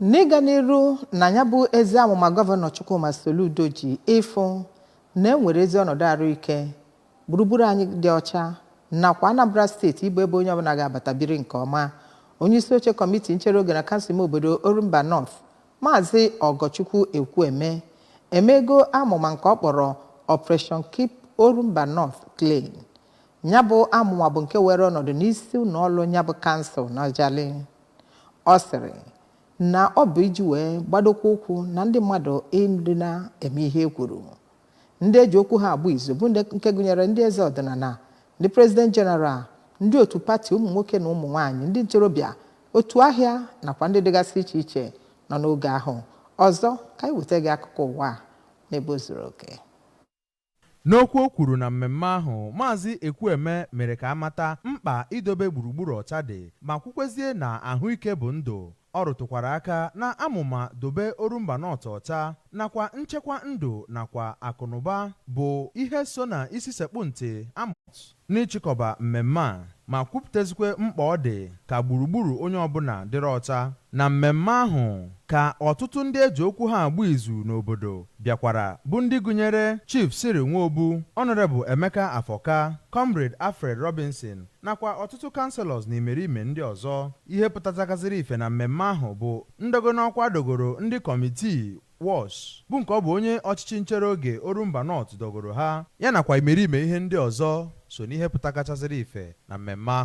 N'ịga n'iru na ya bụ ezi amụma Gọvanọ Chukwuma Soludo ji ịfụ na e nwere ezi ọnọdụ arụike, gburugburu anyị dị ọcha nakwa Anambra steeti ịbụ ebe onye ọbụla ga-abata biri nke ọma, onyeisioche kọmiti nchere oge na kansụl ime obodo Orumba North, Maazị Ọgọchukwu Ekwueme emeego amụma nke ọ kpọrọ Operation Keep Orumba North Clean. Ya bụ amụma bụ nke weere ọnọdụ n'isi ụlọọrụ ya bụ kansụl n'Ajalị. Ọ sịrị na ọ bụ iji wee gbadokwa ụkwụ na ndị mmadụ ịdị na-eme ihe e kwuru. Ndị e ji okwu ha agba izu bụ ndị nke gụnyere ndị eze ọdịnala, ndị President General, ndị otu pati ụmụ nwoke na ụmụ nwaanyị, ndị ntorobịa, otu ahịa nakwa ndị dịgasị iche iche nọ n'oge ahụ. Ọzọ, ka anyị weta gị akụkọ ụwa a n'ebe o zuru oke. N'okwu o kwuru na mmemme ahụ, Maazị Ekwueme mere ka a mata mkpa idobe gburugburu ọcha dị ma kwukwezie na ahụike bụ ndụ. Ọ rụtụkwara aka na amụma Dobe Orumba North Ọcha nakwa nchekwa ndụ nakwa akụnụba bụ ihe so na isi sekpụ ntị a n'ịchịkọba mmemme a ma kwupụtazikwa mkpa ọ dị ka gburugburu onye ọbụla dịrị ọcha na mmemme ahụ ka ọtụtụ ndị e ji okwu ha agba izu n'obodo bịakwara bụ ndị gụnyere Chief Cyril Nwobu, Honourable Emeka Afọka, Comrade Alfred Robinson nakwa ọtụtụ Councillors na imerime ndị ọzọ. Ihe pụtachagazịrị ife na mmemme ahụ bụ ndọgo n'ọkwa a dọgoro ndị kọmitii WASH, bụ nke ọ bụ onye ọchịchị nchere oge Orumba North dọgoro ha, ya nakwa imerime ihe ndị ọzọ so n'ihe pụtakachazịrị ife na mmemme ahụ.